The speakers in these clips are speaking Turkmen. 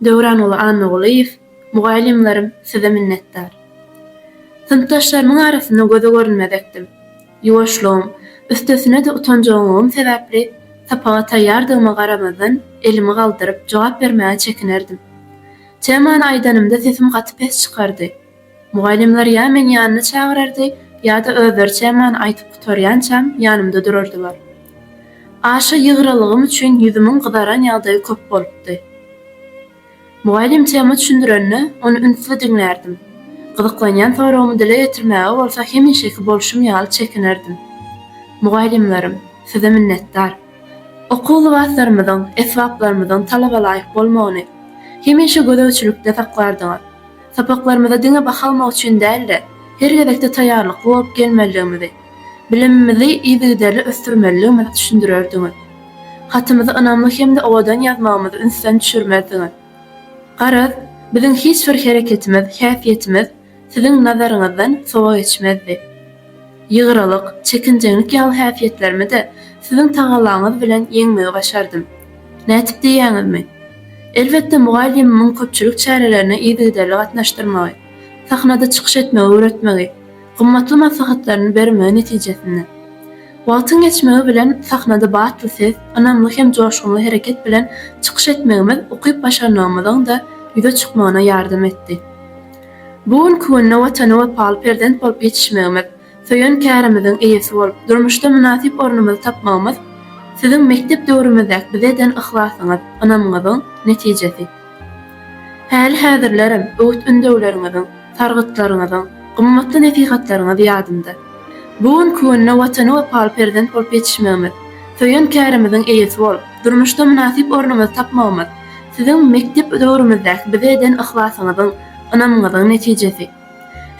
Döwranguly Annagulyýew, Mugallymlarym size minnetdar. Synpdaşlarymyň arasynda göze görünmezekdim. Ýuwaşlygym, üstesine-de utanjagymlygym sebäpli sapaga taýýardygyma garamazdan elimi galdyryp jogap bermäge çekinerdim. Temany aýdanymda sesim gaty pes çykardy. Mugallymlar ýa meni ýanyna çagyrardy, ýa-da özleri çemany aýtyp gutarýançam, ýanymda durardylar. Aşa ýygrylygym üçin ýüzümiň gyzaran ýagdaýy köp bolupdy. Mugallym tema düşündirende, ony ünsli diňlärdim. Gyzyklanýan soragymy dile getirmäge bolsa hemişeki bolşum ýaly çekinerdim. Mugallymlarym, size minnetdar. Okuw lybaslarymyzyň, esbaplarymyzyň talabalaýyk bolmagyny hemişe gözegçilikde saklardyňyz. Sapaklarymyza diňe baha almak üçin däl-de, her gezekde taýýarlykly bolup gelmelidigimizi, bilimimizi yzygiderli ösdürmelidigimizi düşündirerdiňiz. Hatymyzy ynamly hem-de owadan ýazmagymyzy ünsden düşürmezdiňiz. Garaz, biziň hiç bir hereketimiz, häsiýetimiz Siziň nazaryňyzdan sowa geçmezdi. Ýygralyk, çekinjeňlik ýaly häsiýetlerimi-de Siziň tagallaňyz bilen ýeňmegi başardym. Nätip diýýäňizmi? Elbetde, mugallymymyň köpçülik çärelerine yzygiderli gatnaşdyrmagy, sahnada çykyş etmegi öwretmegi, gymmatly maslahatlaryny bermegi netijesinde. Wagtyň geçmegi bilen sahnada batly ses, ynamly hem joşgunly hereket bilen çykyş etmegimiz ukyp-başarnygymyzyň-da ýüze çykmagyna ýardam etdi. Bu günki günde Watana wepaly perzent bolup ýetişmegimiz, söýen kärimiziň eýesi bolup, durmuşda mynasyp ornumyzy tapmagymyz Siziň mekdep döwrümizdäki bize eden yhlasyňyz, ynamyňyzyň netijesi. Häli-häzirlerem öwüt-ündewleriňiziň, sargytlaryňyzyň, gymmatly nesihatlaryňyz ýadymda. Bu günki günde Watana wepaly perzent bolup ýetişmegimiz, söýen kärimiziň eýesi bolup, durmuşda mynasyp ornumyzy tapmagymyz Siziň mekdep döwrümizdäki bize eden yhlasyňyzyň, ynamyňyzyň netijesi.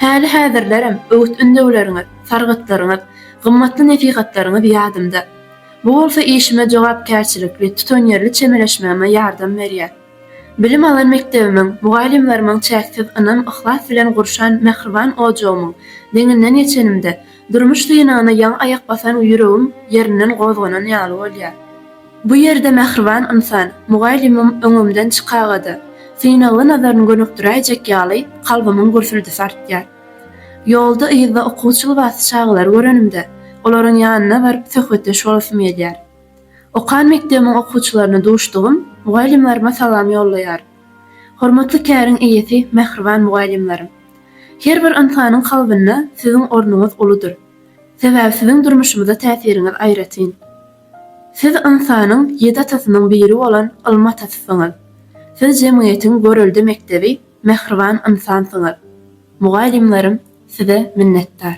Häli-häzirlerem öwüt-ündewleriňiz, sargytlaryňyz, gymmatly nesihatlaryňyz ýadymda. Bu bolsa işime jogapkärçilikli, tutanýerli çemeleşmegime ýardam berýär. Bilim alan mekdebimiň, mugallymlarymyň çäksiz ynam-yhlas bilen gurşan mähriban ojagymyň deňinden geçenimde, durmuş synagyna ýaňy aýak basan ýüregim ýerinden gozganan ýaly bolýar. Bu ýerde mähriban ynsan, mugallymym öňümden çykaga-da, synagly nazaryny gönükdiräýjek ýaly, kalbymyň gürsüldisi artýar. Ýolda, yzda okuwçy lybasly çagalary görenimde, olaryň ýanyna baryp, söhbetdeş bolasym gelýär. Okan mekdebimiň okuwçylaryna duşdugym, mugallymlaryma salam ýollaýaryn. Hormatly käriň eýesi, mähriban mugallymlarym! Her bir ynsanyň kalbynda siziň ornuňyz uludyr. Sebäbi siziň durmuşymyza täsiriňiz aýratyn. Siz ynsanyň ýedi atasynyň biri bolan ylmy atasysyňyz. Siz jemgyýetiň görelde mekdebi, mähriban ynsansyňyz. Mugallymlarym size minnetdar.